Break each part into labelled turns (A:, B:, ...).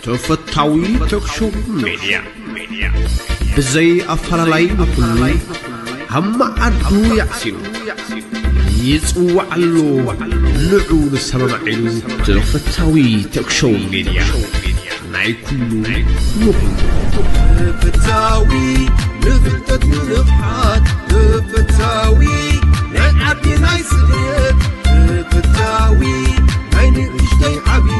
A: ተፈታዊ ተክሾው ሜድያ ብዘይ ኣፈላላይ ንኹሉ ኣብ መዓዱ ያዕሲኑ ይጽዋዓሉ ንዑ ንሰማማዒሉ ተፈታዊ ተክሾው ሜድያ ናይ ኩሉ ንኹሉ ተፈታዊ ንፍልጠት ንንቕሓት ተፈታዊ
B: ናይ ዓዲ ናይ ስደት ተፈታዊ ናይ ንእሽተይ ዓብዪ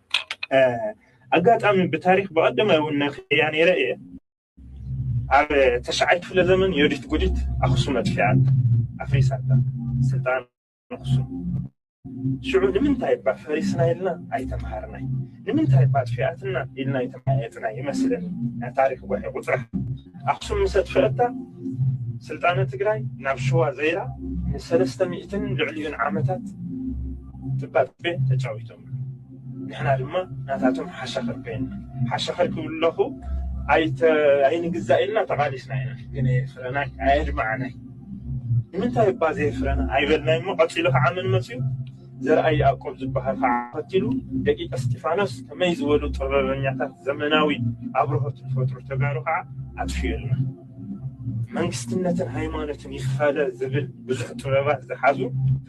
C: ኣጋጣሚ ብታሪክ ብቐደመ እውን ነክያ ነይረ እየ ኣብ ተሽዓይ ክፍለ ዘመን ዮዲት ጉዲት ኣክሱም ኣጥፊኣት ኣፍሪሳታ ስልጣን ኣክሱም ሽዑ ንምንታይ እባ ፈሪስና ኢልና ኣይተምሃርናይ ንምንታይ እባ ኣጥፊኣትና ኢልና ኣይተመያየጥና ይመስለኒ ናይ ታሪክ ጉሒ ቁፅራ ኣክሱም ምስ ኣጥፍአታ ስልጣነ ትግራይ ናብ ሽዋ ዘይራ ንሰለስተ ሚእትን ልዕሊኡን ዓመታት ጥባጥቤ ተጫዊቶም ንሕና ድማ ናታቶም ሓሻኽር ኮይንና። ሓሻኽር ክብል ለኹ ኣይተ ኣይንግዛእ ኢልና ተቓሊስና ኢና። ግን ኣየፍረናይ ኣየድመዓናይ። ንምንታይ እባ ዘየፍረና ኣይበልናይ እሞ ቀጺሉ ኸዓ መን መጺኡ? ዘርኣይ ያእቆብ ዝበሃል ኸዓ ተኸቲሉ ደቂቀ እስጢፋኖስ ከመይ ዝበሉ ጥበበኛታት ዘመናዊ ኣብርሆት ዝፈጥሩ ተጋሩ ኸዓ ኣጥፊኡልና። መንግስትነትን ሃይማኖትን ይፈለ ዝብል ብዙሕ ጥበባት ዝሓዙ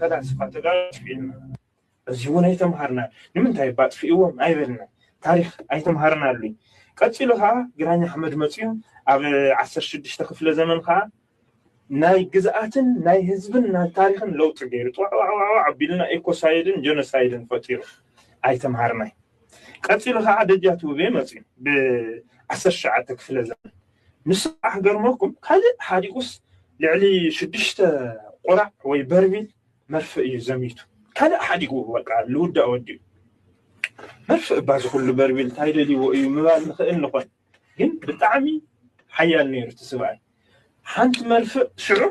C: ፈላስፋ ተጋሩ ኣጥፊኡልና። በዚ እውን ኣይተምሃርናን። ንምንታይ እባ ኣጥፊእዎም ኣይበልናን። ታሪኽ ኣይተምሃርናሉይ። ቀጺሉ ከኣ ግራኝ ኣሕመድ መጺኡ ኣብ ዓሰርተ ሽዱሽተ ክፍለ ዘመን ከኣ ናይ ግዝኣትን ናይ ህዝብን ናይ ታሪኽን ለውጢ ገይሩ ጥዋዕዋዕዋዕ ኣቢልና ኤኮሳይድን ጀኖሳይድን ፈጢሩ ኣይተምሃርናይ። ቀጺሉ ከኣ ደጃት ውቤ መጺኡ ብ ዓሰርተ ትሽዓተ ክፍለ ዘመን ንሱ ከኣ ክገርመኩም ካልእ ሓዲጉስ ልዕሊ ሽዱሽተ ቁራዕ ወይ በርሚል መርፍእ እዩ ዘሚቱ ካልእ ሓዲጉ በቃ ልውዳእ ወዲኡ መርፍእ እባ ዝኩሉ በርቢል ታይ ደልይዎ እዩ ምባል ንክእል ንኮን ግን ብጣዕሚ ሓያል ነይሩ እቲ ስብኣይ ሓንቲ መርፍእ ሽዑ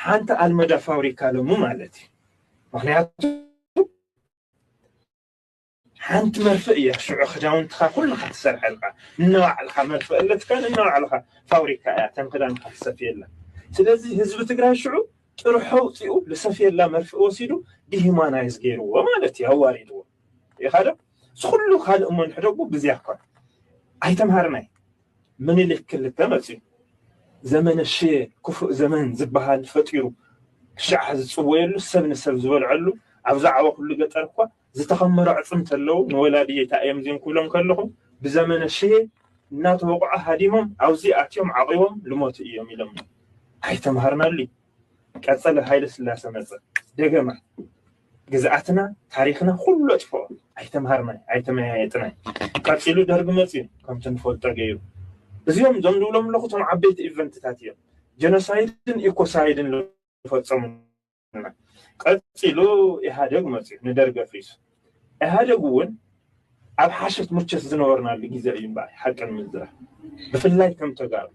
C: ሓንቲ ኣልመዳ ፋብሪካ ለሙ ማለት እዩ ምክንያቱ ሓንቲ መርፍእ እያ ሽዑ ክዳውንትኻ ኩልኻ ትሰርሐልካ ንነባዕልኻ መርፍእ ኣለትካ ንነባዕልኻ ፋብሪካ እያ እተን ክዳንካ ትሰፍየለን ስለዚ ህዝቢ ትግራይ ሽዑ ጥርሑ ኣውፂኡ ዝሰፍየላ መርፍእ ወሲዱ ዲሂማናይዝ ገይርዎ ማለት እዩ ኣዋሪድዎ ይኻዶ ዝኩሉ ካልእ እሞ ንሕደጉ ብዚያ እኳ ኣይተምሃርናይ ምኒልክ ክልተ መፅዩ ዘመነ ሽየ ክፉእ ዘመን ዝበሃል ፈጢሩ ክሻዕ ዝፅወየሉ ሰብ ንሰብ ዝበልዐሉ ኣብዛ ዓወ ኩሉ ገጠር እኳ ዝተኸመሩ ኣዕፅምቲ ኣለው ንወላዲ የታእዮም እዚኦም ክብሎም ከለኹ ብዘመነ ሽሄ እናተወቕዑ ሃዲሞም ኣብዙይ ኣትዮም ዓቂቦም ልሞቱ እዮም ኢሎም እዮም ኣይተምሃርናሉ እዩ ቀፀለ ሃይለ ስላሰ መፀ ደገማ ግዝኣትና ታሪክና ኩሉ ኣጥፍኦ ኣይተምሃርናይ ኣይተመያየጥናይ ቀፂሉ ደርጊ መፅዩ ከምቲ ንፈልጦ ገይሩ እዚኦም እዞም ዝብሎም ኣለኹ እቶም ዓበይቲ ኢቨንትታት እዮም ጀኖሳይድን ኢኮሳይድን ዝፈፀሙ ቀፂሉ ኢህኣደግ መፅዩ ንደርጊ ኣፍሪሱ ኢህኣደግ እውን ኣብ ሓሸት ሙቸት ዝነበርናሉ ግዜ እዩ እምበኣር ሓቂ ንምዝራብ ብፍላይ ከም ተጋሩ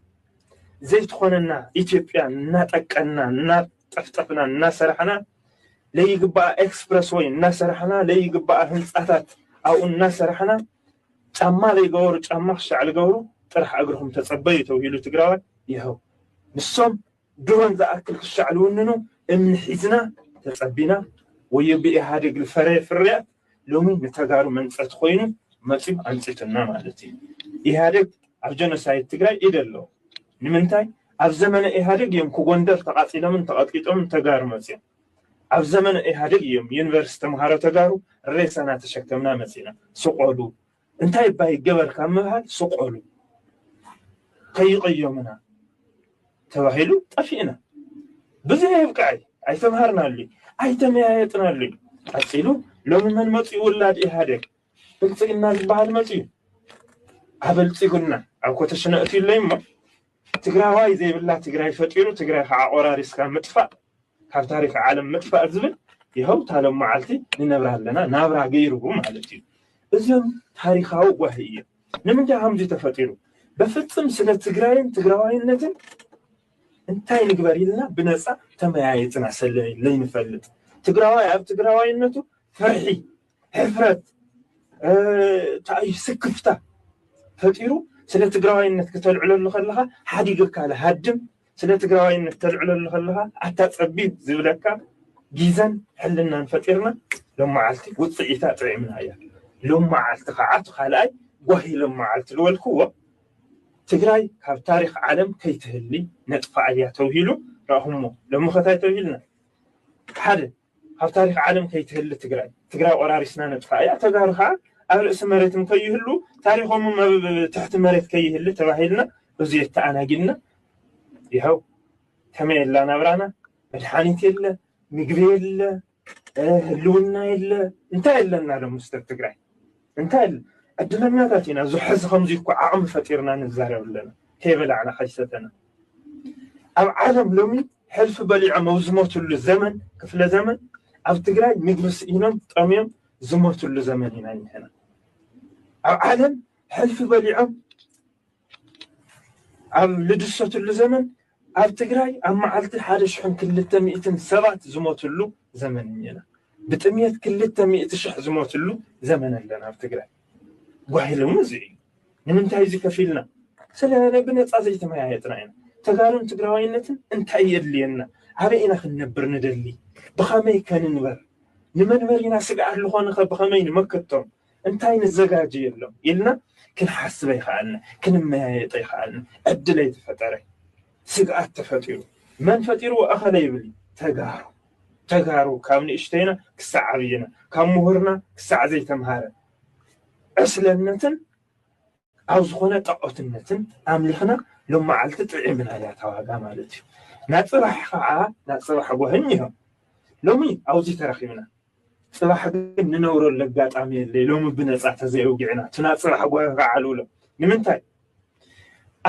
C: ዘይትኾነና ኢትዮጵያ እናጠቀና እናጠፍጠፍና እናሰራሕና ለይግባኣ ኤክስፕረስ ወይ እናሰራሕና ለይግባኣ ህንፃታት ኣብኡ እናሰራሕና ጫማ ለይገበሩ ጫማ ክሻዕ ልገብሩ ጥራሕ እግርኹም ተፀበዩ ተብሂሉ ትግራዋይ ይኸው ንሶም ድሮን ዝኣክል ክሻዕ ልውንኑ እምኒ ሒዝና ተጸቢና ወዮ ብኢሃደግ ልፈረየ ፍርያት ሎሚ ንተጋሩ መንጸቲ ኮይኑ መጽዩ ኣንጺቱና ማለት እዩ ኢሃደግ ኣብ ጀኖሳይድ ትግራይ ኢድ ኣለዎ ንምንታይ ኣብ ዘመነ ኢሃደግ እዮም ኩጎንደር ተቃጺሎምን ተቀጥቂጦምን ተጋሩ መጽዮም ኣብ ዘመነ ኢሃደግ እዮም ዩኒቨርስቲ ተምሃሮ ተጋሩ ሬሳ ናተሸከምና መጺና ስቆሉ እንታይ እባ ይገበር ካብ ምባል ስቆሉ ከይቕየሙና ተባሂሉ ጠፊእና። ብዙይ ኣይብቅዐይ ኣይተምሃርናሉይ ኣይተመያየጥናሉይ ቀጺሉ ሎሚ መን መጺኡ ውላድ ኢህኣዴግ ብልጽግና ዝበሃል መጺኡ ኣበልጺጉና ኣብ ኮተሽነ እትዩለይ እሞ ትግራዋይ ዘይብላ ትግራይ ፈጢሩ ትግራይ ከዓ ቆራሪስካ ምጥፋእ ካብ ታሪክ ዓለም ምጥፋእ ዝብል ይሀው ታሎም መዓልቲ ንነብራ ኣለና ናብራ ገይርቡ ማለት እዩ እዚም ታሪካዊ ጓሂ እዩ ንምንታይ ከምዚ ተፈጢሩ በፍፅም ስለ ትግራይን ትግራዋይነትን እንታይ ንግበር ኢልና ብነፃ ተመያየጥና ሰለ ለይንፈልጥ ትግራዋይ ኣብ ትግራዋይነቱ ፍርሒ ሕፍረት ታዩ ስክፍታ ፈጢሩ ስለ ትግራዋይነት ክተልዕለሉ ከለኻ ሓዲገካ ሃድም ስለ ትግራዋይነት ተልዕለሉ ከለኻ ኣታ ፀቢብ ዝብለካ ጊዘን ሕልናን ፈጢርና ሎመዓልቲ ውፅኢታ ጥዒምና እያ ሎመዓልቲ ከዓ እቲ ካልኣይ ጓሂ ሎመዓልቲ ዝበልክዎ ትግራይ ካብ ታሪክ ዓለም ከይትህሊ ነጥፋ እያ ተብሂሉ ረእኹሞ ሎሚ ከታይ ተብሂልና ሓደ ኣብ ታሪክ ዓለም ከይትህሊ ትግራይ ትግራይ ቆራሪስና ነጥፍኣ እያ ተጋሩ ከዓ ኣብ ርእሲ መሬትም ከይህሉ ታሪኮምም ኣብ ትሕቲ መሬት ከይህሊ ተባሂልና እዙይ ተኣናጊድና ይኸው ከመይ የላ ናብራና መድሓኒት የለ ምግቢ የለ ህልውና የለ እንታይ ኣለና ሎ ምስተር ትግራይ እንታይ ዕድለኛታት ኢና ዙ ሕዚ ከምዚ እኮ ዓቕሚ ፈጢርና ንዛረብ ኣለና ከይበላዕና ከይሰተና ኣብ ዓለም ሎሚ ሕልፊ በሊዖም ኣብ ዝሞትሉ ዘመን ክፍለ ዘመን ኣብ ትግራይ ምግቢ ስኢኖም ጠምዮም ዝሞትሉ ዘመን ኢና ንሕና ኣብ ዓለም ሕልፊ በሊዖም ኣብ ልድሰትሉ ዘመን ኣብ ትግራይ ኣብ መዓልቲ ሓደ ሽሕን ክልተ ሚእትን ሰባት ዝሞትሉ ዘመን እኒና ብጥምየት ክልተ ሚእቲ ሽሕ ዝሞትሉ ዘመን ኣለና ኣብ ትግራይ ጓሂሉ እውን እዚ እዩ። ንምንታይ እዚ ከፍ ኢልና? ስለ ብነፃ ዘይተመያየጥና ኢና። ተጋሩን ትግራዋይነትን እንታይ የድልየና? ኣበይ ኢና ክንነብር ንደሊ? ብኸመይ ከ ንንበር? ንመንበሪና ስግኣት ዝኾኑኸ ብኸመይ ንመክቶም? እንታይ ንዘጋጀየሎም? ኢልና ክንሓስብ ኣይኸኣልና፣ ክንመያየጥ ኣይኸኣልና። ዕድል ኣይተፈጠረ፣ ስግኣት ተፈጢሩ። መን ፈጢርዎ? እኸለ ይብል እዩ። ተጋሩ ተጋሩ ካብ ንእሽተይና ክሳዕ ዓብይና ካብ ምሁርና ክሳዕ ዘይተምሃረ ዕስለነትን ኣብ ዝኾነ ጣዖትነትን ኣምሊኽና ሎም መዓልቲ ጥዒምና እያ እታ ዋጋ ማለት እዩ ናብ ፅባሕ ከዓ ናብ ፅባሕ ጎህኝ እዮም ሎሚ ኣብዚ ተረኺብና ፅባሕ ግን ንነብረሉ ኣጋጣሚ የለይ ሎሚ ብነፃ ተዘይውጊዕና እቲ ናብ ፅባሕ ጎህ ከዓልውሎ ንምንታይ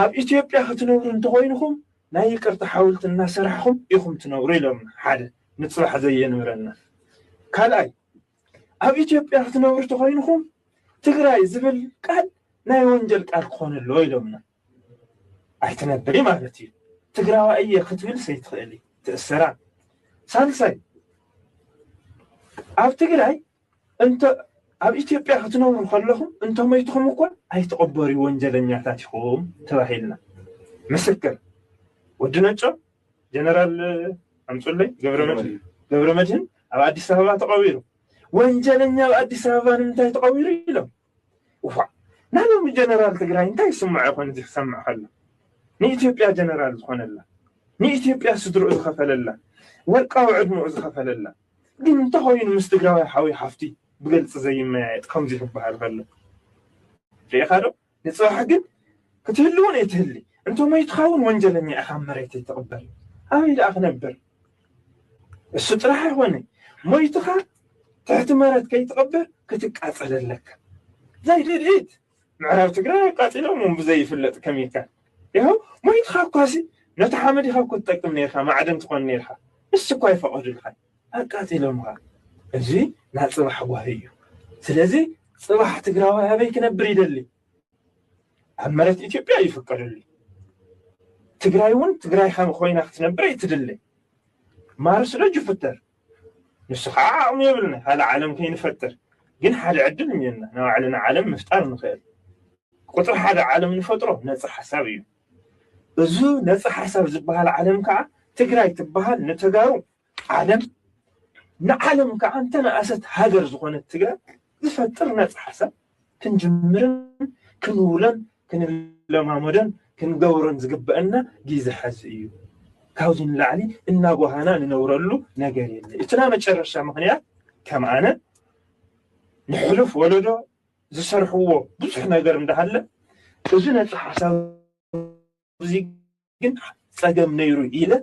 C: ኣብ ኢትዮጵያ ክትነብሩ እንተኮይንኹም ናይ ይቅርታ ሓውልቲ እናሰራሕኹም ኢኹም ትነብሩ ኢሎምና ሓደ ንፅባሕ ዘየንብረና ካልኣይ ኣብ ኢትዮጵያ ክትነብሩ ተኾይንኹም ትግራይ ዝብል ቃል ናይ ወንጀል ቃል ክኾን ኣለዎ ኢሎምና ኣይትነብሪ ማለት እዩ ትግራዋ እየ ክትብል ሰይትኽእሊ ትእሰራ ሳልሳይ ኣብ ትግራይ እንተ ኣብ ኢትዮጵያ ክትነብሩ ከለኹም እንተ ሞይትኹም እኳ ኣይትቕበርዩ ወንጀለኛታት ኢኹም ተባሂልና። ምስክር፣ ወዲ ነጮ፣ ጀነራል ኣምጹለይ ገብረመድህን ኣብ ኣዲስ ኣበባ ተቐቢሩ። ወንጀለኛ ኣብ ኣዲስ ኣበባ ንምንታይ ተቐቢሩ ኢሎም። እዋእ ናይ ሎሚ ጀነራል ትግራይ እንታይ ይስምዖ ይኾን እዚ ክሰምዕ ከሎ ንኢትዮጵያ ጀነራል ዝኾነላ ንኢትዮጵያ ስድርኡ ዝኸፈለላ ወርቃዊ ዕድምኡ ዝኸፈለላ ግን እንተኾይኑ ምስ ትግራዋይ ሓውይ ሓፍቲ ብገልፂ ዘይመያየጥ ከምዚ ክበሃል ከሎ ርኢኻ ዶ ንፅባሕ ግን ክትህልውን እይትህሊ እንተሞይትኻ እውን ወንጀለኛ ኢኻ መሬተይ ትቕበር ኣበይ ደኣ ክነብር እሱ ጥራሕ ኣይኮነይ ሞይትኻ ትሕቲ መረት ከይትቐብር ክትቃፀል ኣለካ ዛይ ድድኢት ምዕራብ ትግራይ ኣቃፂሎም ብዘይፍለጥ ከሚካል ይኸ ሞይትኻ እኳሲ ነቲ ሓመድ ኢኻ እኮ ትጠቅም ነርካ ማዕደን ትኾን ነርካ ንሱ እኳ ይፈቐዱልካ ኣቃፂሎምኻ እዚ ናይ ፅባሕ ጓሂ እዩ ስለዚ ፅባሕ ትግራዋይ ኣበይ ክነብር ይደሊ ኣብ መሬት ኢትዮጵያ ይፍቀደሉ ትግራይ እውን ትግራይ ከም ኮይና ክትነብር ኣይትድለ ማርስ ዶ ጁፒተር ንሱ ከዓ ዓቕሚ የብልና ካልእ ዓለም ከይንፈጥር ግን ሓደ ዕድል እኒና ናብ ባዕልና ዓለም ምፍጣር ንኽእል ቁፅሪ ሓደ ዓለም ንፈጥሮ ነፃ ሓሳብ እዩ እዚ ነፃ ሓሳብ ዝበሃል ዓለም ከዓ ትግራይ ትበሃል ንተጋሩ ዓለም ንዓለም ከኣ እንተነኣሰት ሃገር ዝኾነት ትግራይ ዝፈጥር ነፃ ሓሳብ ክንጅምርን ክንውሎን ክንለማመዶን ክንገብሮን ዝግበአና ጊዘ ሐዚ እዩ። ካብዚ ንላዕሊ እናጓሃና ንነብረሉ ነገር የለ። እቲ ናይ መጨረሻ ምክንያት ከም ኣነ ንሕሉፍ ወለዶ ዝሰርሕዎ ብዙሕ ነገር እንዳሃለ እዚ ነፃ ሓሳብ እዚ ግን ፀገም ነይሩ ኢለ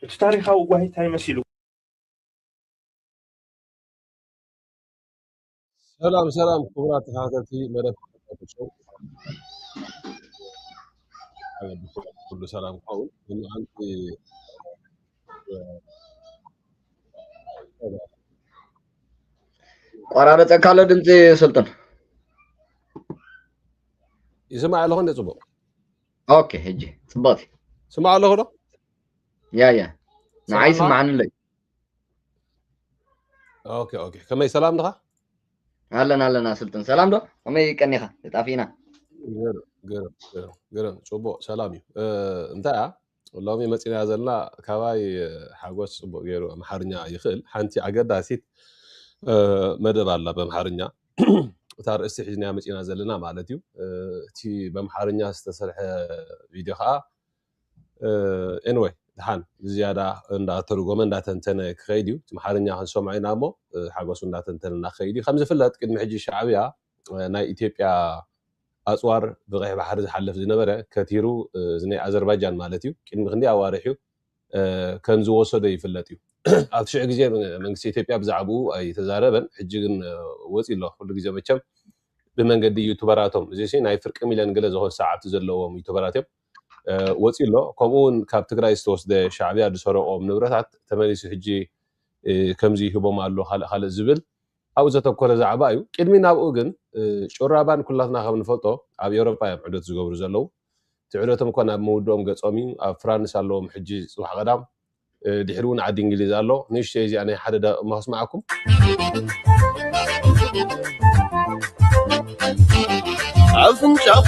C: እቲ ታሪካዊ ጓሂ እንታይ መሲሉ
D: ሰላም ሰላም ክቡራት ተኸታተልቲ መደብ ተኸታተልቲ ኩሉ ሰላም ክኸውን ንመዓልቲ
E: ቆራረፀካ ኣሎ ድምፂ ስልጡን
D: ይስማዕ ኣለኹ እንደ ፅቡቅ ኦኬ
E: ሕጂ ፅብቕቲ ስማዕ ኣለኹ ዶ
D: ያ ያ
E: ንዓይ ስማዕኒ ኣለይ
D: ኦኬ ኦኬ ከመይ ሰላም ድኻ ኣለና
E: ኣለና ስልጥን ሰላም ዶ ከመይ ቀኒኻ ተጣፊእና ገርም ገርም ገርም
D: ገርም ፅቡቅ ሰላም እዩ እ፣ እንታይ እያ ሎሚ መፂና ዘለና ካባይ እ፣ ሓጎስ ፅቡቅ ገይሩ ኣምሓርኛ ይኽእል ሓንቲ ኣገዳሲት እ፣ መደብ ኣላ በምሓርኛ እታ ርእስቲ ሒዝናያ መጺና ዘለና ማለት እዩ እቲ በምሓርኛ ዝተሰርሐ ቪድዮ ከዓ ኤንወይ ድሓን ብዝያዳ እንዳተርጎመ እንዳተንተነ ክኸይድ እዩ እቲ መሓርኛ ክንሰምዖ ኢና እሞ ሓጎሱ እንዳተንተነ እናክኸይድ እዩ ከም ዝፍለጥ ቅድሚ ሕጂ ሻዕብያ ናይ ኢትዮጵያ ኣፅዋር ብቀይሕ ባሕሪ ዝሓልፍ ዝነበረ ከቲሩ ናይ ኣዘርባጃን ማለት እዩ ቅድሚ ክንደይ ኣዋርሕ እዩ ከም ዝወሰዶ ይፍለጥ እዩ። ኣብቲ ሽዑ ግዜ መንግስቲ ኢትዮጵያ ብዛዕብኡ ኣይተዛረበን፣ ሕጂ ግን ወጺኡ ኣሎ። ኩሉ ግዜ መቸም ብመንገዲ ዩቱበራቶም፣ እዚሲ ናይ ፍርቂ ሚልዮን ገለ ዝኾን ሰዓብቲ ዘለዎም ዩቱበራት እዮም፣ ወጺኡ ኣሎ። ከምኡ'ውን ካብ ትግራይ ዝተወስደ ሻዕብያ ዝሰረቖም ንብረታት ተመሊሱ ሕጂ ከምዚ ይህቦም ኣሎ፣ ካልእ ካልእ ዝብል ኣብኡ ዘተኮረ ዛዕባ እዩ። ቅድሚ ናብኡ ግን ጩራባን ኩላትና ከም ንፈልጦ ኣብ ኤውሮጳ እዮም ዑደት ዝገብሩ ዘለዉ። እቲ ዑደቶም እኳ ናብ ምውድኦም ገጾም እዩ። ኣብ ፍራንስ ኣለዎም ሕጂ ጽባሕ ቀዳም። ድሒሩ እውን ዓዲ እንግሊዝ ኣሎ። ንእሽቶይ እዚኣ ናይ ሓደ ደቒቕ እሞ ከስምዓኩም።
B: ኣፍንጫኹ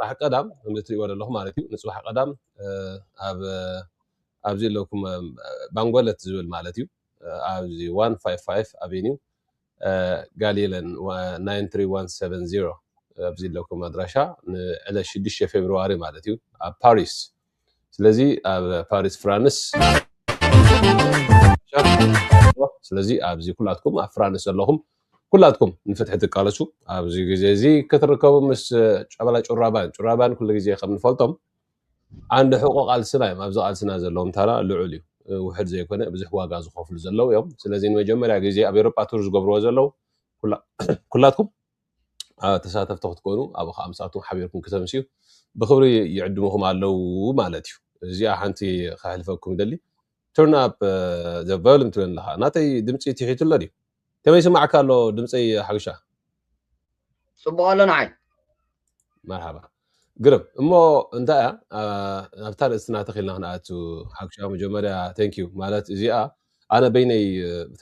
B: ፅባሕ
D: ቀዳም ከምዚ እትሪእዎ ዘለኹም ማለት እዩ ንፅባሕ ቀዳም ኣብ ኣብዚ ኣለኩም ባንጎለት ዝብል ማለት እዩ ኣብዚ ዋን ፋይቭ ፋይቭ ኣቬኒው ጋሊለን ናይን ትሪ ዋን ሰቨን ዚሮ ኣብዚ ኣለኩም ኣድራሻ ንዕለት ሽዱሽተ ፌብርዋሪ ማለት እዩ ኣብ ፓሪስ ስለዚ ኣብ ፓሪስ ፍራንስ ስለዚ ኣብዚ ኩላትኩም ኣብ ፍራንስ ዘለኹም ኩላትኩም ንፍትሒ ትቃለሱ ኣብዚ ግዜ እዚ ክትርከቡ ምስ ጨበላ ጩራባን ጩራባን ኩሉ ግዜ ከም ንፈልጦም ዓንዲ ሕቆ ቃልስና እዮም ኣብዚ ቃልስና ዘለዎም ታራ ልዑል እዩ ውሕድ ዘይኮነ ብዙሕ ዋጋ ዝኸፍሉ ዘለው እዮም ስለዚ ንመጀመርያ ግዜ ኣብ ኤሮጳ ቱር ዝገብርዎ ዘለው ኩላትኩም ተሳተፍቲ ክትኮኑ ኣብ ከዓ ምስኣቶም ሓቢርኩም ክተምስዩ ብክብሪ ይዕድምኹም ኣለው ማለት እዩ እዚኣ ሓንቲ ከሕልፈኩም ደሊ ቱርን ኣፕ ዘ ቨልን ትብል ኣለካ ናተይ ድምፂ ትሒቱ ኣሎ ድዩ ከመይ ይስማዓካ ኣሎ ድምጸይ ሓዊሻ?
E: ጽቡቕ ኣሎ ንዓይ።
D: መርሓባ ግርም እሞ እንታይ እያ ኣብታ ርእስትና ተኺልና ክንኣቱ ሓክሻ መጀመርያ ተንክዩ ማለት እዚኣ ኣነ በይነይ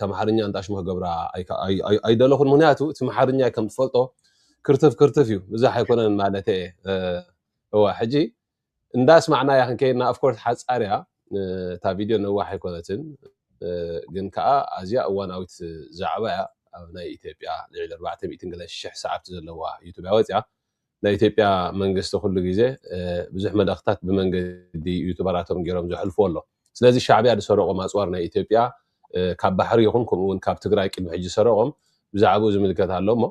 D: ተምሓርኛ እንጣሽሙ ክገብራ ኣይደለኹን ምክንያቱ እቲ መሓርኛ ከም ትፈልጦ ክርትፍ ክርትፍ እዩ ብዛሕ ኣይኮነን ማለት እየ እዋ ሕጂ እንዳ ኣስማዕናያ ክንከይድና ኦፍ ኮርስ ሓጻር እያ እታ ቪድዮ ነዋሕ ኣይኮነትን ግን ከዓ ኣዝያ እዋናዊት ዛዕባ እያ ኣብ ናይ ኢትዮጵያ ልዕሊ 400 ገለ ሽሕ ሰዓብቲ ዘለዋ ዩቱብ እያ ወፅያ ናይ ኢትዮጵያ መንግስቲ ኩሉ ግዜ ብዙሕ መልእኽታት ብመንገዲ ዩቱበራቶም ገይሮም ዘሕልፍዎ ኣሎ ስለዚ ሻዕብያ ዝሰረቆ ማፅዋር ናይ ኢትዮጵያ ካብ ባሕሪ ይኹን ከምኡ ውን ካብ ትግራይ ቅድሚ ሕጂ ዝሰረቖም ብዛዕብኡ ዝምልከት ኣሎ እሞ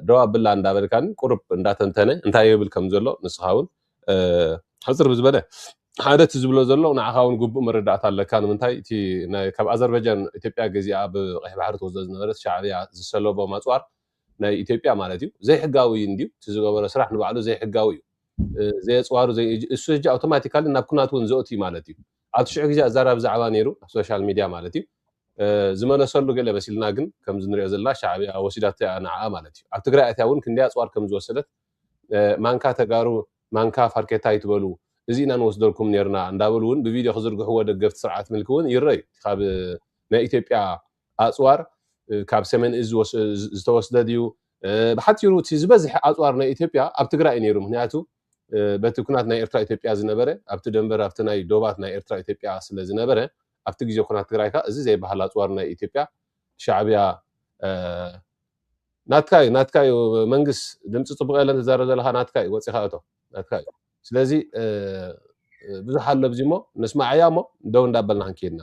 D: ደው ኣብላ እንዳበልካኒ ቁሩብ እንዳተንተነ እንታይ ይብል ከም ዘሎ ንስኻ ውን ሕጽር ብዝበለ ሓደ እቲ ዝብሎ ዘሎ ንዓኻ ውን ግቡእ መረዳእታ ኣለካ ንምንታይ እቲ ናይ ካብ ኣዘርበጃን ኢትዮጵያ ገዚኣ ኣብ ቀይሕ ባሕሪ ትወስዶ ዝነበረት ሻዕብያ ዝሰለቦ ማጽዋር ናይ ኢትዮጵያ ማለት እዩ ዘይሕጋዊ እንድዩ እቲ ዝገበሮ ስራሕ ንባዕሉ ዘይሕጋዊ እዩ ዘየጽዋሩ እሱ ሕጂ ኣውቶማቲካሊ ናብ ኩናት ውን ዘእቱ ማለት እዩ ኣብቲ ሽዑ ግዜ ኣዛራቢ ዛዕባ ነይሩ ኣብ ሶሻል ሚድያ ማለት እዩ ዝመለሰሉ ገለ መሲልና ግን ከምዚ ንሪኦ ዘለና ሻዕብያ ወሲዳቶ እያ ንዓኣ ማለት እዩ ኣብ ትግራይ ኣትያ እውን ክንደይ ኣፅዋር ከም ዝወሰደት ማንካ ተጋሩ ማንካ ፋርኬታ ኣይትበሉ እዚ ኢና ንወስደልኩም ነርና እንዳበሉ እውን ብቪድዮ ክዝርግሕዎ ደገፍቲ ስርዓት ምልኪ እውን ይረዩ ካብ ናይ ኢትዮጵያ ኣፅዋር ካብ ሰሜን እዚ ዝተወስደ ድዩ ብሓፂሩ እቲ ዝበዝሐ ኣፅዋር ናይ ኢትዮጵያ ኣብ ትግራይ እዩ ነይሩ ምክንያቱ በቲ ኩናት ናይ ኤርትራ ኢትዮጵያ ዝነበረ ኣብቲ ደንበር ኣብቲ ናይ ዶባት ናይ ኤርትራ ኢትዮጵያ ስለ ዝነበረ ኣብቲ ግዜ ኩናት ትግራይ ከኣ እዚ ዘይበሃል ኣጽዋር ናይ ኢትዮጵያ ሻዕብያ ናትካ እዩ ናትካ እዩ መንግስ ድምፂ ፅቡቅ የለን ትዛረብ ዘለካ ናትካ እዩ ወፂካ እቶ ናትካ እዩ ስለዚ ብዙሕ ኣሎ ብዚ እሞ ነስማዓያ እሞ ደው እንዳበልና ክንከይድና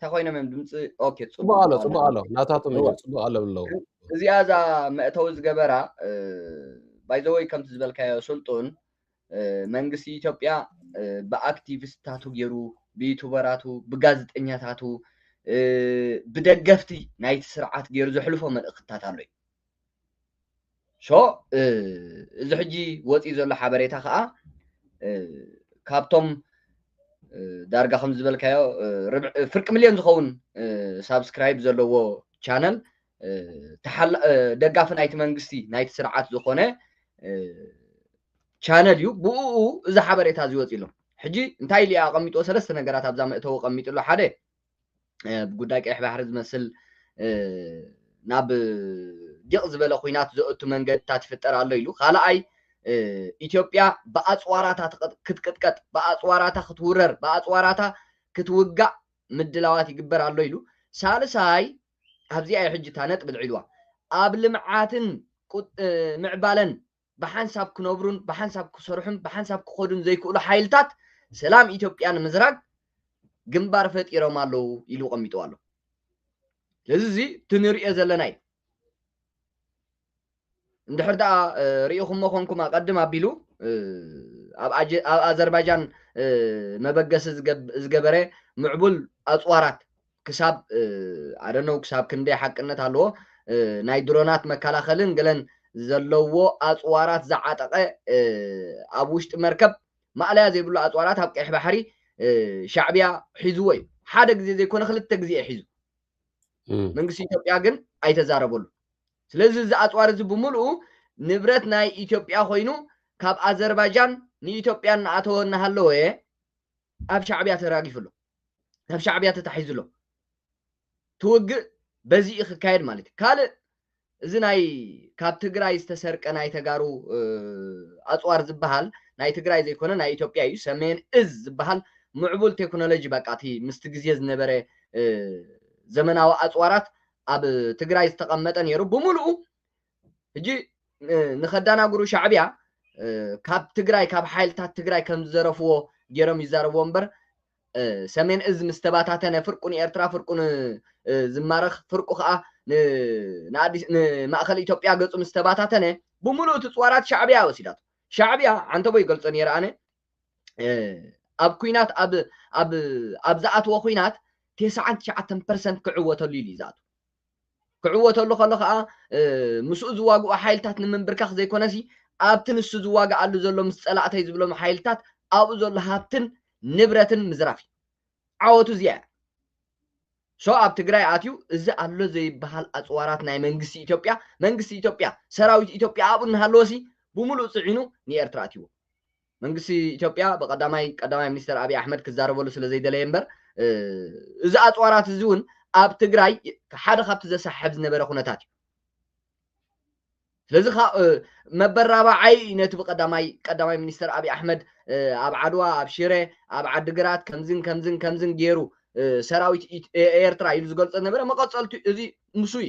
E: ተኮይኖም እዮም ድምፂ ኦኬ ፅቡቅ ኣሎ ፅቡቅ ኣሎ
D: ናታቶም እዩ ፅቡቅ ኣሎ ብለው እዚኣ እዛ
E: መእተዊ ዝገበራ ባይዘወይ ከምቲ ዝበልካዮ ስልጡን መንግስቲ ኢትዮጵያ ብኣክቲቪስታቱ ገይሩ ብዩቱበራቱ ብጋዜጠኛታቱ ብደገፍቲ ናይቲ ስርዓት ገይሩ ዘሕልፎ መልእክትታት ኣሎ እዩ ሶ እዚ ሕጂ ወፂኡ ዘሎ ሓበሬታ ከዓ ካብቶም ዳርጋ ከም ዝበልካዮ ፍርቂ ሚልዮን ዝኸውን ሳብስክራይብ ዘለዎ ቻነል ደጋፊ ናይቲ መንግስቲ ናይቲ ስርዓት ዝኾነ ቻነል እዩ ብኡ እዚ ሓበሬታ እዚ ወፂ ኣሎ ሕጂ እንታይ ኢሉ ኣቐሚጥዎ ሰለስተ ነገራት ኣብዛ መእተዊ ኣቐሚጡ ኣሎ ሓደ ጉዳይ ቀይሕ ባሕሪ ዝመስል ናብ ዲቕ ዝበለ ኩናት ዘእቱ መንገድታት ይፍጠር ኣሎ ኢሉ ካልኣይ ኢትዮጵያ ብኣፅዋራታ ክትቅጥቀጥ ብኣፅዋራታ ክትውረር ብኣፅዋራታ ክትውጋእ ምድላዋት ይግበር ኣሎ ኢሉ ሳልሳይ ኣብዚኣ ሕጂ እታ ነጥቢ ልዒልዋ ኣብ ልምዓትን ምዕባለን ብሓንሳብ ክነብሩን ብሓንሳብ ክሰርሑን ብሓንሳብ ክኸዱን ዘይክእሉ ሓይልታት ሰላም ኢትዮጵያ ንምዝራግ ግንባር ፈጢሮም ኣለዉ ኢሉ ቀሚጥዎ ኣሎ ስለዚ እዚ እቲ ንሪኦ ዘለና እዩ እንድሕር ደኣ ርኢኹሞ ኮንኩም ኣቐድም ኣቢሉ ኣብ ኣዘርባይጃን መበገሲ ዝገበረ ምዕቡል ኣፅዋራት ክሳብ ኣደነው ክሳብ ክንደይ ሓቅነት ኣለዎ ናይ ድሮናት መከላኸልን ገለን ዘለዎ ኣፅዋራት ዝዓጠቐ ኣብ ውሽጢ መርከብ ማእለያ ዘይብሉ ኣፅዋራት ኣብ ቀይሕ ባሕሪ ሻዕቢያ ሒዝዎ እዩ ሓደ ግዜ ዘይኮነ ክልተ ግዜ ሒዙ መንግስቲ ኢትዮጵያ ግን ኣይተዛረበሉ ስለዚ እዚ ኣፅዋር እዚ ብምልኡ ንብረት ናይ ኢትዮጵያ ኮይኑ ካብ ኣዘርባጃን ንኢትዮጵያ እናኣተወ እናሃለወ ኣብ ሻዕብያ ተራጊፉ ኣሎ ናብ ሻዕብያ ተታሒዙ ኣሎ ትውግእ በዚ እዩ ክካየድ ማለት እዩ ካልእ እዚ ናይ ካብ ትግራይ ዝተሰርቀ ናይ ተጋሩ ኣፅዋር ዝበሃል ናይ ትግራይ ዘይኮነ ናይ ኢትዮጵያ እዩ ሰሜን እዝ ዝበሃል ምዕቡል ቴክኖሎጂ በቃ እቲ ምስቲ ግዜ ዝነበረ ዘመናዊ ኣፅዋራት ኣብ ትግራይ ዝተቐመጠ ነይሩ ብምልኡ ሕጂ ንኸዳናግሩ ሻዕብያ ካብ ትግራይ ካብ ሓይልታት ትግራይ ከም ዝዘረፍዎ ገይሮም ይዛረብዎ እምበር ሰሜን እዝ ምስ ተባታተነ ፍርቁ ንኤርትራ ፍርቁ ዝማረኽ ፍርቁ ከዓ ንማእኸል ኢትዮጵያ ገፁ ምስ ተባታተነ ብምሉእ እቲ ፅዋራት ሻዕብያ ወሲዳቶ ሻዕብያ ዓንተቦ ይገልፆ ነይረ ኣነ ኣብ ኩናት ኣብ ዝኣትዎ ኩናት ቴስዓን ትሽዓተን ፐርሰንት ክዕወተሉ ኢሉ እዩ ዝኣትዎ ክዕወተሉ ከሎ ከኣ ምስኡ ዝዋግኡ ሓይልታት ንምንብርካኽ ዘይኮነሲ ኣብቲ ንሱ ዝዋግኣሉ ዘሎ ምስ ጸላእተይ ዝብሎም ሓይልታት ኣብኡ ዘሎ ሃብትን ንብረትን ምዝራፍ እዩ። ዓወቱ እዚኣ እያ። ሶ ኣብ ትግራይ ኣትዩ እዚ ኣሎ ዘይበሃል ኣጽዋራት ናይ መንግስቲ ኢትዮጵያ መንግስቲ ኢትዮጵያ ሰራዊት ኢትዮጵያ ኣብኡ እናሃለወሲ ብምሉኡ ጽዒኑ ንኤርትራ ኣትይዎ። መንግስቲ ኢትዮጵያ ብቀዳማይ ቀዳማይ ሚኒስተር ኣብይ ኣሕመድ ክዛረበሉ ስለ ዘይደለየ እምበር እዚ ኣፅዋራት እዚ እውን ኣብ ትግራይ ሓደ ካብቲ ዘሰሓሕብ ዝነበረ ኩነታት እዩ ስለዚ መበራባዓይ ነቲ ብቀዳማይ ቀዳማይ ሚኒስተር ኣብይ ኣሕመድ ኣብ ዓድዋ ኣብ ሽረ ኣብ ዓዲግራት ከምዝን ከምዝን ከምዝን ገይሩ ሰራዊት ኤርትራ ኢሉ ዝገልፆ ነበረ መቐፀልቱ እዚ ምስ እዩ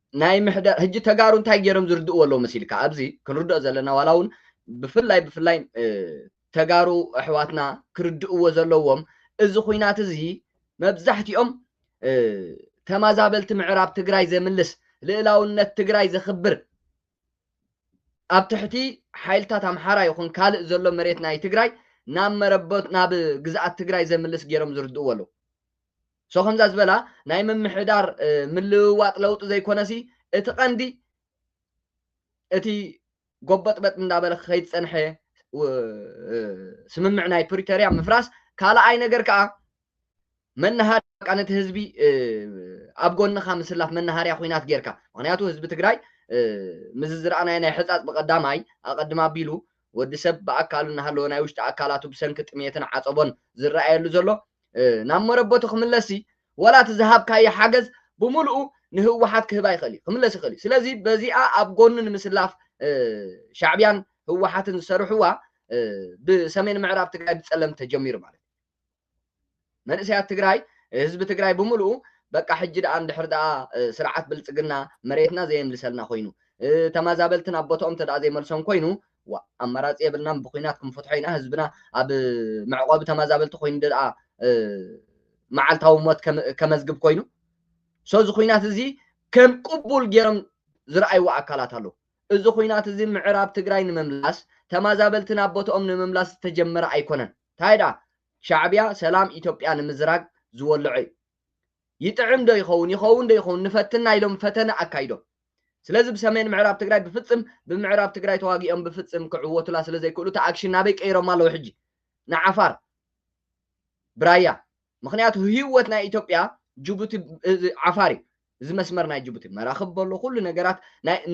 E: ናይ ምሕደራ ህጂ ተጋሩ እንታይ ጌሮም ዝርድእዎ ኣለዉ መሲልካ ኣብዚ ክንርድኦ ዘለና ዋላ ውን ብፍላይ ብፍላይ ተጋሩ ኣሕዋትና ክርድእዎ ዘለዎም እዚ ኹናት እዚ መብዛሕቲኦም ተማዛበልቲ ምዕራብ ትግራይ ዘምልስ ልእላውነት ትግራይ ዘኽብር ኣብ ትሕቲ ሓይልታት ኣምሓራ ይኹን ካልእ ዘሎ መሬት ናይ ትግራይ ናብ መረቦት ናብ ግዝኣት ትግራይ ዘምልስ ጌሮም ዝርድእዎ ኣለዉ So ከምዛ ዝበላ ናይ ምምሕዳር ምልውዋጥ ለውጢ ዘይኮነሲ እቲ ቀንዲ እቲ ጎበጥበጥ እንዳበለ ክኸይድ ዝጸንሐ ስምምዕ ናይ ፕሪቶርያ ምፍራስ ካልኣይ ነገር ከኣ መናሃር በቃ ነቲ ህዝቢ ኣብ ጎንኻ ምስላፍ መናሃርያ ኩናት ጌርካ ምክንያቱ ህዝቢ ትግራይ ምዚ ዝረኣናዮ ናይ ሕፃፅ ብቀዳማይ ኣቀድም ኣቢሉ ወዲ ሰብ ብኣካሉ እናሃለወ ናይ ውሽጢ ኣካላቱ ብሰንኪ ጥምየትን ዓጸቦን ዝረኣየሉ ዘሎ ናብ መረበቱ ክምለስሲ ዋላ እቲ ዝሃብካዮ ሓገዝ ብምልኡ ንህወሓት ክህባ ይኽእል እዩ ክምለስ ይኽእል እዩ ስለዚ በዚኣ ኣብ ጎኑ ንምስላፍ ሻዕብያን ህወሓትን ዝሰርሕዋ ብሰሜን ምዕራብ ትግራይ ብፀለምቲ ተጀሚሩ ማለት መንእሰያት ትግራይ ህዝቢ ትግራይ ብምልኡ በቃ ሕጂ ደኣ እንድሕር ደኣ ስርዓት ብልጽግና መሬትና ዘየምልሰልና ኮይኑ ተማዛበልቲ ናብ ቦትኦም እንተ ዘይመልሶም ኮይኑ ዋእ ኣማራጺ የብልናን ብኩናት ክንፈትሖ ኢና ህዝብና ኣብ መዕቆቢ ተማዛበልቲ ኮይኑ ደኣ መዓልታዊ ሞት ከመዝግብ ኮይኑ ሶ እዚ ኩናት እዚ ከም ቅቡል ገይሮም ዝረኣይዎ ኣካላት ኣለዉ እዚ ኩናት እዚ ምዕራብ ትግራይ ንምምላስ ተማዛበልቲ ናብ ቦትኦም ንምምላስ ዝተጀመረ ኣይኮነን ታይ ድኣ ሻዕብያ ሰላም ኢትዮጵያ ንምዝራግ ዝወልዖ እዩ ይጥዕም ዶ ይኸውን ይኸውን ዶ ይኸውን ንፈትና ኢሎም ፈተነ ኣካይዶም ስለዚ ብሰሜን ምዕራብ ትግራይ ብፍፅም ብምዕራብ ትግራይ ተዋጊኦም ብፍፅም ክዕወቱላ ስለዘይክእሉ እቲ ኣክሽን ናበይ ቀይሮም ኣለዉ ሕጂ ንዓፋር ብራያ ምክንያቱ ህይወት ናይ ኢትዮጵያ ጅቡቲ ዓፋር እዩ እዚ መስመር ናይ ጅቡቲ መራኽብ በሎ ኩሉ ነገራት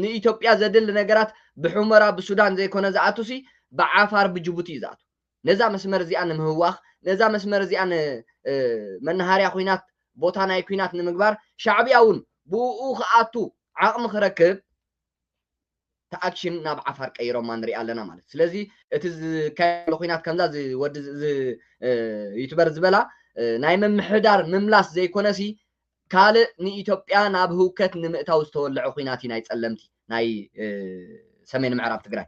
E: ንኢትዮጵያ ዘድሊ ነገራት ብሑመራ ብሱዳን ዘይኮነ ዝኣቱሲ ብዓፋር ብጅቡቲ እዩ ዝኣቱ ነዛ መስመር እዚኣ ንምህዋኽ፣ ነዛ መስመር እዚኣ ን መናሃርያ ኹናት፣ ቦታ ናይ ኩናት ንምግባር፣ ሻዕብያ እውን ብኡኡ ክኣቱ ዓቕሚ ክረክብ እታ ኣክሽን ናብ ዓፋር ቀይሮማ ንሪኣ ኣለና ማለት እዩ። ስለዚ እቲ ዝካየድ ዘሎ ኹናት ከምዛ እዚ ወዲ እዚ ዩቱበር ዝበላ ናይ ምምሕዳር ምምላስ ዘይኮነሲ ካልእ ንኢትዮጵያ ናብ ህውከት ንምእታው ዝተወለዐ ኹናት እዩ ናይ ፀለምቲ ናይ ሰሜን ምዕራብ ትግራይ።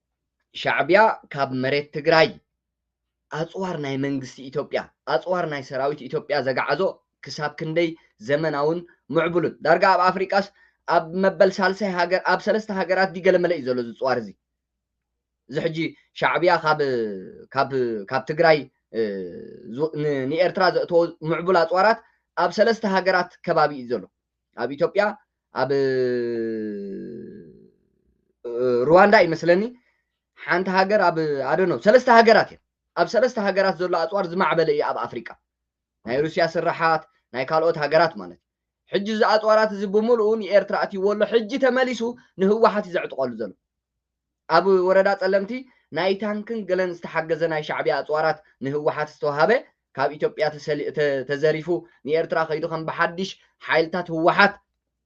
E: ሻዕቢያ ካብ መሬት ትግራይ ኣፅዋር ናይ መንግስቲ ኢትዮጵያ፣ ኣፅዋር ናይ ሰራዊት ኢትዮጵያ ዘግዓዞ ክሳብ ክንደይ ዘመናውን ምዕቡልን፣ ዳርጋ ኣብ ኣፍሪቃስ ኣብ መበል ሳልሳይ ሃገር ኣብ ሰለስተ ሃገራት ድዩ ገለመለ እዩ ዘሎ እዚ ፅዋር እዚ። እዚ ሕጂ ሻዕቢያ ካብ ካብ ካብ ትግራይ ንኤርትራ ዘእተዎ ምዕቡል ኣፅዋራት ኣብ ሰለስተ ሃገራት ከባቢ እዩ ዘሎ። ኣብ ኢትዮጵያ፣ ኣብ ሩዋንዳ እዩ መስለኒ ሓንቲ ሃገር ኣብ ኣደኖ ሰለስተ ሃገራት እየን ኣብ ሰለስተ ሃገራት ዘሎ ኣፅዋር ዝማዕበለ እዩ ኣብ ኣፍሪቃ ናይ ሩስያ ስራሓት ናይ ካልኦት ሃገራት ማለት እዩ ሕጂ እዚ ኣፅዋራት እዚ ብምልኡ ንኤርትራ ኣትይዎ ኣሎ ሕጂ ተመሊሱ ንህወሓት እዩ ዘዕጥቀሉ ዘሎ ኣብ ወረዳ ጸለምቲ ናይ ታንክን ገለን ዝተሓገዘ ናይ ሻዕብያ ኣጽዋራት ንህወሓት ዝተውሃበ ካብ ኢትዮጵያ ተዘሪፉ ንኤርትራ ከይዱ ከም ብሓዲሽ ሓይልታት ህወሓት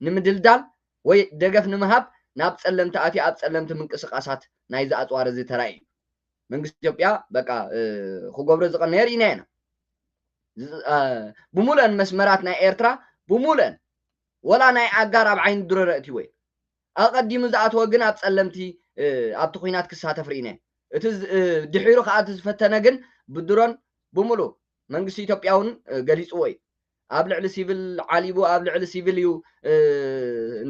E: ንምድልዳል ወይ ደገፍ ንምሃብ ናብ ጸለምቲ ኣትዩ ኣብ ጸለምቲ ምንቅስቃሳት ናይዚ ኣጽዋር እዚ ተራእዩ እዩ። መንግስቲ ኢትዮጵያ በቃ ክገብሮ ዝቀነየ ርኢና ኢና። ብሙሉእን መስመራት ናይ ኤርትራ ብሙሉእን ወላ ናይ ኣጋር ኣብ ዓይኒ ድሮን ኣእትይዎ እዩ። ኣቐዲሙ ዝኣተወ ግን ኣብ ጸለምቲ ኣብቲ ኲናት ክሳተፍ ርኢነ። እቲ ድሒሩ ከኣ እቲ ዝፈተነ ግን ብድሮን ብምሉ መንግስቲ ኢትዮጵያ ውን ገሊጽዎ እዩ። ኣብ ልዕሊ ሲቪል ዓሊቡ ኣብ ልዕሊ ሲቪል እዩ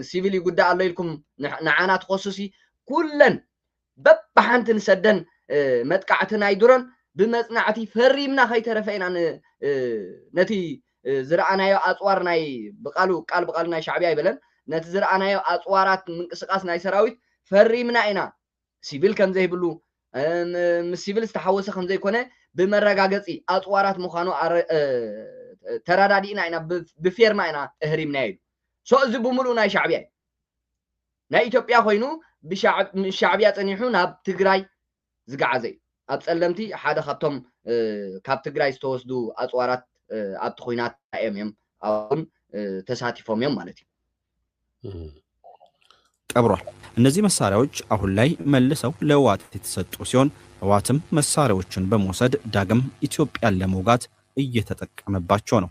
E: ሲቪል ይጉዳእ ኣሎ ኢልኩም ንዓና ትኸሱሲ ኩለን በብሓንቲ ንሰደን መጥቃዕቲ ናይ ድሮን ብመጽናዕቲ ፈሪምና ከይተረፈ ኢና ነቲ ዝረኣናዮ ኣጽዋር ናይ ብቃሉ ቃል ብቃሉ ናይ ሻዕብያ ኣይበለን ነቲ ዝረኣናዮ ኣጽዋራት ምንቅስቃስ ናይ ሰራዊት ፈሪምና ኢና ሲቪል ከም ዘይብሉ ምስ ሲቪል ዝተሓወሰ ከም ዘይኮነ ብመረጋገጺ ኣጽዋራት ምዃኑ ተረዳዲእና ኢና ብፌርማ ኢና እህሪምናዮ ኢሉ ሶ እዚ ብምሉእ ናይ ሻዕብያ እዩ ናይ ኢትዮጵያ ኮይኑ ምስ ሻዕብያ ጸኒሑ ናብ ትግራይ ዝገዓዘ እዩ። ኣብ ጸለምቲ ሓደ ካብቶም ካብ ትግራይ ዝተወስዱ ኣጽዋራት ኣብቲ ኩናት ኣዮም እዮም ኣውን ተሳቲፎም እዮም ማለት እዩ።
F: ቀብሯል። እነዚህ መሳሪያዎች አሁን ላይ መልሰው ለህወሓት የተሰጡ ሲሆን ህወሓትም መሳሪያዎቹን በመውሰድ ዳግም ኢትዮጵያን ለመውጋት እየተጠቀመባቸው ነው።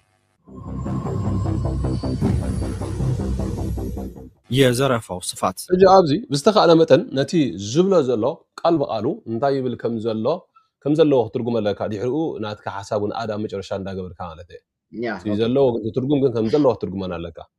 F: የዘረፋው ስፋት። ሕጂ ኣብዚ ብዝተኻእለ
D: መጠን ነቲ ዝብሎ ዘሎ ቃል ብቓሉ እንታይ ይብል ከም ዘሎ ከም ዘለዎ ክትርጉመለካ ድሕሪኡ ናትካ ሓሳብ ውን ኣድ ኣብ መጨረሻ እንዳ ገበርካ ማለተይ እቲ ዘለዎ ትርጉም ግን ከም ዘለዎ ክትርጉመና ኣለካ።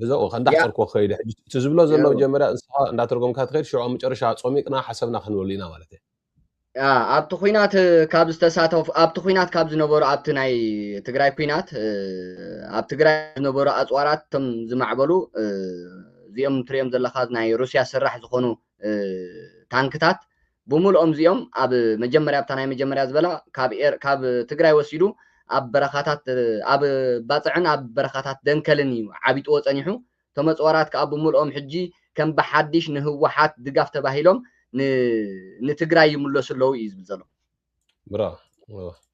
D: ብዛኡ ከንዳሕፀርኮ ክኸይድ ሕጂ እቲ ዝብሎ ዘሎ መጀመርያ ንስኻ እንዳተርጎምካ ትኸይድ ሽዑ ኣብ መጨረሻ ጾሚቅና ሓሰብና ክንበሉ ኢና ማለት እዩ ኣብቲ
E: ኩናት ካብ ዝተሳተፉ ኣብቲ ኩናት ካብ ዝነበሩ ኣብቲ ናይ ትግራይ ኩናት ኣብ ትግራይ ዝነበሩ ኣፅዋራት እቶም ዝማዕበሉ እዚኦም ትሪኦም ዘለካ ናይ ሩስያ ስራሕ ዝኾኑ ታንክታት ብሙሉኦም እዚኦም ኣብ መጀመርያ ኣብታ ናይ መጀመርያ ዝበላ ካብ ኤር ካብ ትግራይ ወሲዱ ኣብ በረኻታት ኣብ ባጽዕን ኣብ በረኻታት ደንከልን እዩ ዓቢጥዎ ጸኒሑ እቶም ኣጽዋራት ከኣ ብሙሉኦም ሕጂ ከም ብሓዲሽ ንህወሓት ድጋፍ ተባሂሎም ን ንትግራይ ይምለሱ ኣለዉ እዩ ዝብል ዘሎ። ብራቮ።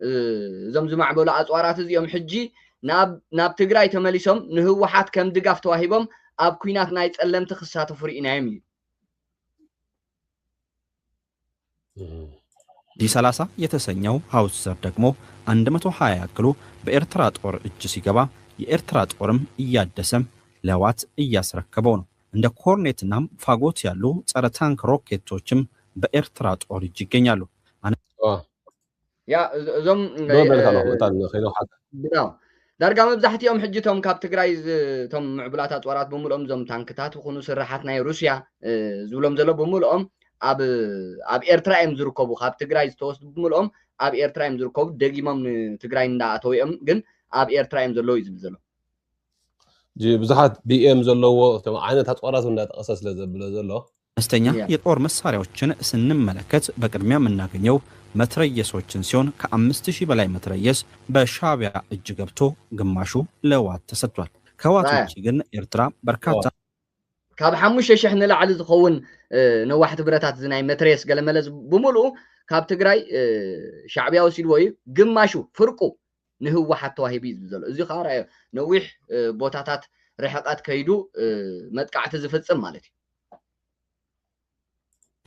E: እዞም ዝማዕበሉ ኣፅዋራት እዚኦም ሕጂ ናብ ትግራይ ተመሊሶም ንህወሓት ከም ድጋፍ ተዋሂቦም ኣብ ኩናት ናይ ፀለምቲ ክሳተፉ ርኢናዮም እዩ
F: ዲ 30 የተሰኘው ሀውትዘር ደግሞ 120 ያክሉ በኤርትራ ጦር እጅ ሲገባ የኤርትራ ጦርም እያደሰ ለህዋት እያስረከበው ነው። እንደ ኮርኔት እናም ፋጎት ያሉ ጸረ ታንክ ሮኬቶችም በኤርትራ ጦር እጅ ይገኛሉ።
E: ያ እዞም ዶ በልካ ኣለኹ እታ ከይዶ ሓታ ብዳው ዳርጋ መብዛሕትኦም ሕጂ እቶም ካብ ትግራይ እቶም ምዕቡላት ኣፅዋራት ብምልኦም እዞም ታንክታት ይኹኑ ስራሓት ናይ ሩስያ ዝብሎም ዘሎ ብምልኦም ኣብ ኣብ ኤርትራ እዮም ዝርከቡ ካብ ትግራይ ዝተወስዱ ብምልኦም ኣብ ኤርትራ እዮም ዝርከቡ ደጊሞም ንትግራይ እንዳኣተው እዮም ግን ኣብ ኤርትራ እዮም ዘለዉ እዩ ዝብል ዘሎ
D: ብዙሓት ቢኤም ዘለዎ እቶም ዓይነት ኣፅዋራት እውን እንዳጠቐሰ ስለ ዘብሎ ዘሎ። መስተኛ የጦር
F: መሳሪያዎችን ስንመለከት በቅድሚያ ምናገኘው መትረየሶችን ሲሆን ከአምስት ሺህ በላይ መትረየስ በሻቢያ እጅ ገብቶ ግማሹ ለህዋት ተሰጥቷል ከህዋት ውጪ ግን ኤርትራ በርካታ ካብ
E: ሓሙሽተ ሽሕ ንላዕሊ ዝኸውን ነዋሕቲ ብረታት እዚ ናይ መትረየስ ገለመለ ብምልኡ ካብ ትግራይ ሻዕቢያ ወሲድዎ እዩ ግማሹ ፍርቁ ንህወሓት ተዋሂቡ እዩ ዝብል ዘሎ። እዚ ከኣ ርኣዮ ነዊሕ ቦታታት ርሕቐት ከይዱ መጥቃዕቲ ዝፍጽም ማለት እዩ።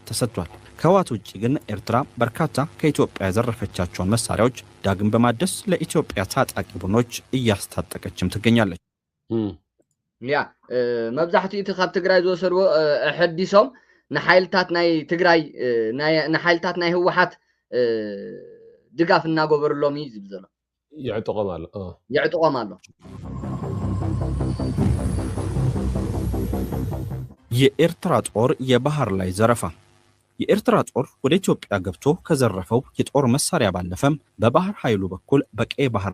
F: ተሰጥቷል። ከህወሓት ውጪ ግን ኤርትራ በርካታ ከኢትዮጵያ የዘረፈቻቸውን መሳሪያዎች ዳግም በማደስ ለኢትዮጵያ ታጣቂ ቡድኖች እያስታጠቀችም ትገኛለች።
E: ያ መብዛሕትኡ እቲ ካብ ትግራይ ዝወሰድዎ ኣሐዲሶም ንሓይልታት ናይ ትግራይ ንሓይልታት ናይ ህወሓት ድጋፍ እናገበርሎም እዩ ዝብል ዘሎ የዕጥቖም ኣሎ የዕጥቖም ኣሎ
F: የኤርትራ ጦር የባህር ላይ ዘረፋ የኤርትራ ጦር ወደ ኢትዮጵያ ገብቶ ከዘረፈው የጦር መሳሪያ ባለፈም በባህር ኃይሉ በኩል በቀይ ባህር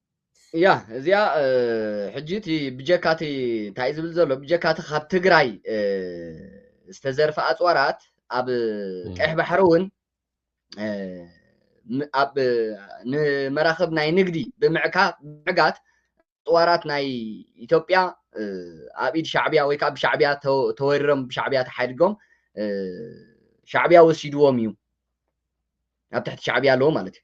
D: እያ እዚኣ
E: ሕጂ እቲ ብጀካ እቲ እንታይ እዩ ዝብል ዘሎ ብጀካ እቲ ካብ ትግራይ ዝተዘርፈ ኣፅዋራት ኣብ ቀይሕ ባሕሪ እውን ኣብ ንመራኽብ ናይ ንግዲ ብምዕካ ምዕጋት ኣፅዋራት ናይ ኢትዮጵያ ኣብ ኢድ ሻዕብያ ወይ ከዓ ብሻዕብያ ተወሪሮም ብሻዕብያ ተሓድጎም ሻዕብያ ወሲድዎም እዩ ኣብ ትሕቲ ሻዕብያ ኣለዎ ማለት እዩ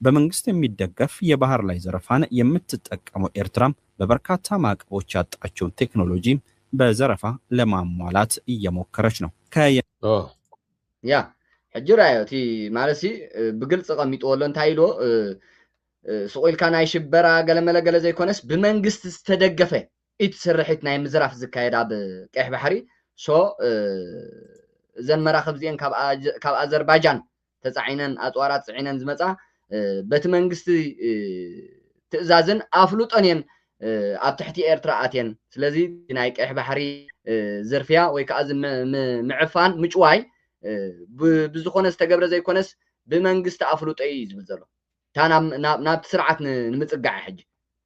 F: በመንግስት የሚደገፍ የባህር ላይ ዘረፋን የምትጠቀመው ኤርትራ በበርካታ ማዕቀቦች ያጣችውን ቴክኖሎጂ በዘረፋ ለማሟላት እየሞከረች ነው። ከየ
E: ያ ሕጂ ራዮ እቲ ማለትሲ ብግልፂ ቀሚጥዎ ኣሎ እንታይ ኢልዎ ስቑኢልካ ናይ ሽበራ ገለመለ ገለ ዘይኮነስ ብመንግስቲ ዝተደገፈ ኢት ስርሒት ናይ ምዝራፍ ዝካየድ ኣብ ቀይሕ ባሕሪ ሶ እዘን መራኽብ እዚአን ካብ ኣዘርባይጃን ተጻዒነን ኣጽዋራት ጽዒነን ዝመጻ በቲ መንግስቲ ትእዛዝን ኣፍልጦን እየን ኣብ ትሕቲ ኤርትራ ኣትየን ስለዚ ናይ ቀይሕ ባሕሪ ዝርፍያ ወይ ከዓ ምዕፋን ምጭዋይ ብዝኾነ ዝተገብረ ዘይኮነስ ብመንግስቲ ኣፍልጦ እዩ ዝብል ዘሎ እታ ናብቲ ስርዓት ንምፅጋዕ ሕጂ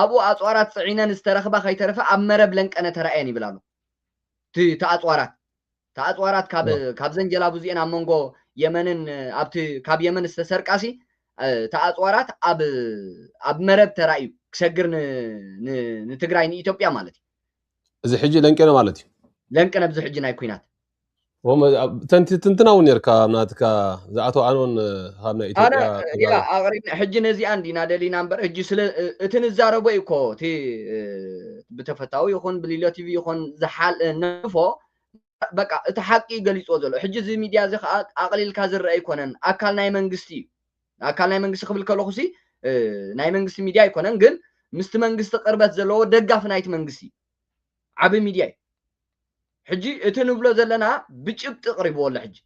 E: ኣብኡ ኣጽዋራት ጽዒነን ዝተረኽባ ከይተረፈ ኣብ መረብ ለንቀነ ተራእየን ይብል ኣሎ እቲ እቲ ኣጽዋራት እቲ ኣጽዋራት ካብ ዋው ካብዘን ጀላቡ እዚኤን ኣብ መንጎ የመንን ኣብቲ ካብ የመን ዝተሰርቃሲ እቲ ኣጽዋራት ኣብ ኣብ መረብ ተራእዩ ክሰግር ን ን ንትግራይ ንኢትዮጵያ ማለት እዩ እዚ ሕጂ
D: ለንቄነ ማለት እዩ ለንቀነ ብዚ ሕጂ ናይ
E: ኲናት ወም ኣብ- ተንቲ ትንትና
D: እውን ነርካ ኣብ ናትካ ዝኣቶ ኣኖን ካብ ናይ ኣነ ኢትዮጵያ ያ ተጋሩ ኣቕሪብና
E: ሕጂ ነዚኣ እንዲና ደሊና እምበር ሕጂ ስለ እ- እቲ ንዛረቦ እዩ እኮ እቲ እ፣ ብተፈታዊ ይኹን ብሊሎ ቲቪ ይኹን ዝሓል ነፎ በቃ እቲ ሓቂ እዩ ገሊፅዎ ዘሎ ሕጂ እዚ ሚድያ እዚ ከዓ ኣቕሊልካ ዝረአ ኣይኮነን ኣካል ናይ መንግስቲ እዩ ኣካል ናይ መንግስቲ ክብል ከለኹ ሲ እ፣ ናይ መንግስቲ ሚድያ ኣይኮነን ግን ምስቲ መንግስቲ ቅርበት ዘለዎ ደጋፊ ናይቲ መንግስቲ እዩ ዓብይ ሚድያ እዩ ሕጂ እቲ ንብሎ ዘለና ብጭብጢ ቅሪብዎ ኣሎ ሕጂ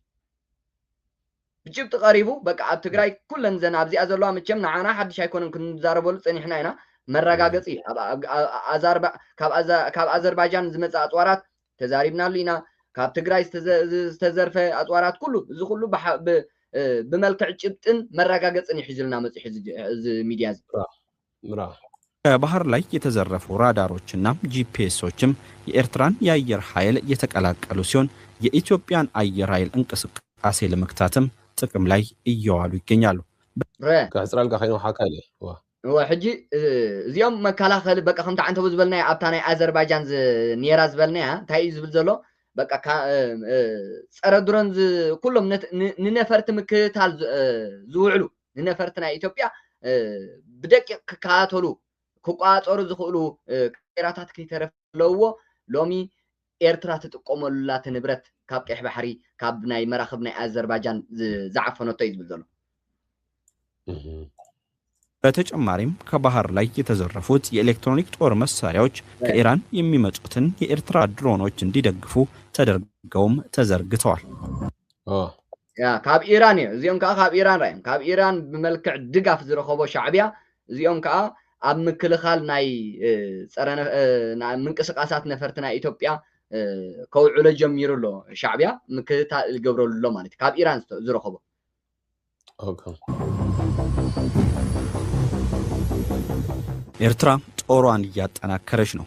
E: ብጭብጢ ቀሪቡ በቃ ኣብ ትግራይ ኩለን ዘን ኣብዚኣ ዘለዋ መቸም ንዓና ሓድሽ ኣይኮነን ክንዛረበሉ ፀኒሕና ኢና መረጋገፂ ካብ ኣዘርባጃን ዝመፀ ኣፅዋራት ተዛሪብናሉ ኢና ካብ ትግራይ ዝተዘርፈ ኣፅዋራት ኩሉ እዚ ኩሉ ብመልክዕ ጭብጥን መረጋገፅን ይሒዙልና መፅሑ እዚ ሚድያ እዚ ምራ።
F: ከባህር ላይ የተዘረፉ ራዳሮች እና ጂፒኤሶችም የኤርትራን የአየር ሀይል የተቀላቀሉ ሲሆን የኢትዮጵያን አየር ሀይል እንቅስቃሴ ለመግታትም ጥቅም ላይ እየዋሉ ይገኛሉ። በ። ከሕጽረልካ
D: ከይኑ ሓካይ ኢየ እወ። እወ ሕጂ
E: እዚኦም መካላኸሊ በቃ ከምቲ ዓንተቦ ዝበልናዮ ኣብታ ናይ ኣዘርባጃን ዝ ኔራ ዝበልናያ እንታይ እዩ ዝብል ዘሎ በቃ ካ ጸረ ድሮን ዝ ኩሎም ንነፈርቲ ምክትታል ዝውዕሉ ንነፈርቲ ናይ ኢትዮጵያ ብደቂቕ ክከታተሉ ክቆፃፀሩ ዝኽእሉ ካሜራታት ከይተረፈ ዘለውዎ ሎሚ ኤርትራ ትጥቀመሉ ኣላ እቲ ንብረት ካብ ቀይሕ ባሕሪ ካብ ናይ መራኽብ ናይ ኣዘርባጃን ዝዓፈነቶ እዩ ዝብል ዘሎ።
F: በተጨማሪም ከባህር ላይ የተዘረፉት የኤሌክትሮኒክ ጦር መሳሪያዎች ከኢራን የሚመጡትን የኤርትራ ድሮኖች እንዲደግፉ ተደርገውም ተዘርግተዋል።
E: ያ ካብ ኢራን እዮ እዚኦም ከኣ ካብ ኢራን ራዮም ካብ ኢራን ብመልክዕ ድጋፍ ዝረኸቦ ሻዕብያ እዚኦም ከኣ ኣብ ምክልኻል ናይ ጸረ ምንቅስቃሳት ነፈርቲ ናይ ኢትዮጵያ ከውዕሎ ጀሚሩ ኣሎ ሻዕብያ ምክትታል ዝገብረሉ ኣሎ ማለት ካብ ኢራን ዝረኸቦ
F: ኤርትራ ጦሯን እያጠናከረች ነው።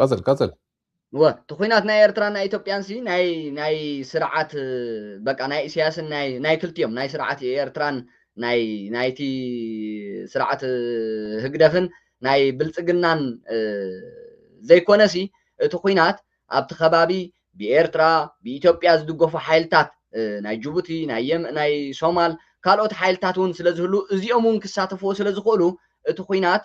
D: ቀፅል ቀፅል እወ እቲ
E: ኩናት ናይ ኤርትራን ናይ ኢትዮጵያን ሲ ናይ ናይ ስርዓት በቃ ናይ ኢሳያስን ናይ ናይ ክልቲኦም ናይ ስርዓት ኤርትራን ናይ ናይቲ ስርዓት ህግደፍን ናይ ብልጽግናን ዘይኮነሲ እቲ ኩናት ኣብቲ ከባቢ ብኤርትራ ብኢትዮጵያ ዝድገፉ ሓይልታት ናይ ጅቡቲ ናይ ናይ ሶማል ካልኦት ሓይልታት እውን ስለዝህሉ እዚኦም እውን ክሳተፍዎ ስለዝኽእሉ እቲ ኩናት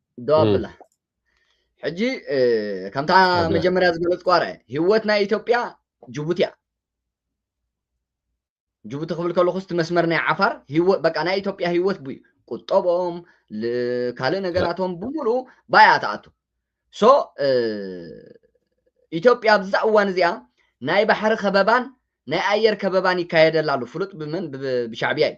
F: ደው ኣብላ ሕጂ
E: እ፣ ከምታ ኣብላ። መጀመርያ ዝገለጽ ቋረ ህይወት ናይ ኢትዮጵያ ጅቡቲ እያ ጅቡቲ ክብል ከለኹ ስቲ መስመር ናይ ዓፋር ህይወት በቃ ናይ ኢትዮጵያ ህይወት ብ ቁጠቦም ል- ካልእ ነገራቶም ብምሉኡ ባያ ትኣቱ ሶ እ፣ ኢትዮጵያ ኣብዛ እዋን እዚኣ ናይ ባሕሪ ከበባን ናይ ኣየር ከበባን ይካየደላ ኣሎ ፍሉጥ ብመን ብ- ብሻዕብያ እዩ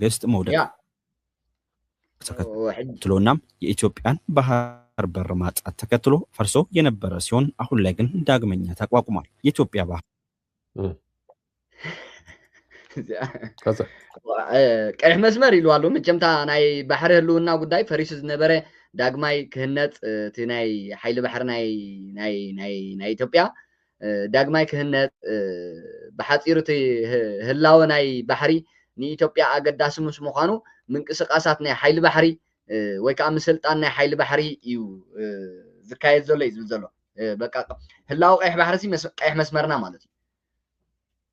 F: መንግስት መውደቅት ተከትሎ እና የኢትዮጵያን ባህር በር ማጣት ተከትሎ ፈርሶ የነበረ ሲሆን አሁን ላይ ግን ዳግመኛ ተቋቁሟል። የኢትዮጵያ ባህር
E: ቀይሕ መስመር ኢሉ ኣሎ መቸምታ ናይ ባሕሪ ህልውና ጉዳይ ፈሪሱ ዝነበረ ዳግማይ ክህነፅ እቲ ናይ ሓይሊ ባሕሪ ናይ ኢትዮጵያ ዳግማይ ክህነጽ ብሓጺሩ እቲ ህላወ ናይ ባሕሪ ንኢትዮጵያ ኣገዳሲ ምስ ምዃኑ ምንቅስቓሳት ናይ ሓይሊ ባሕሪ ወይ ከዓ ምስልጣን ናይ ሓይሊ ባሕሪ እዩ ዝካየድ ዘሎ እዩ ዝብል ዘሎ በቃ ህላወ ቀይሕ ባሕሪ ቀይሕ መስመርና ማለት እዩ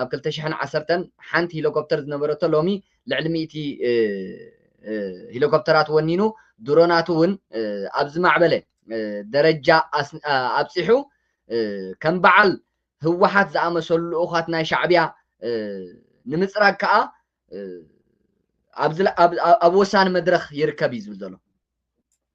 E: ኣብ ክልተ ሽሕን ዓሰርተን ሓንቲ ሂሎኮፕተር ዝነበረቶ ሎሚ ልዕሊ ሚእቲ ሂሎኮፕተራት ወኒኑ ድሮናቱ እውን ኣብ ዝማዕበለ ደረጃ ኣብፂሑ ከም በዓል ህወሓት ዝኣመሰሉ ልኡኻት ናይ ሻዕቢያ ንምፅራግ ከዓ ኣብ ወሳኒ መድረኽ ይርከብ እዩ ዝብል ዘሎ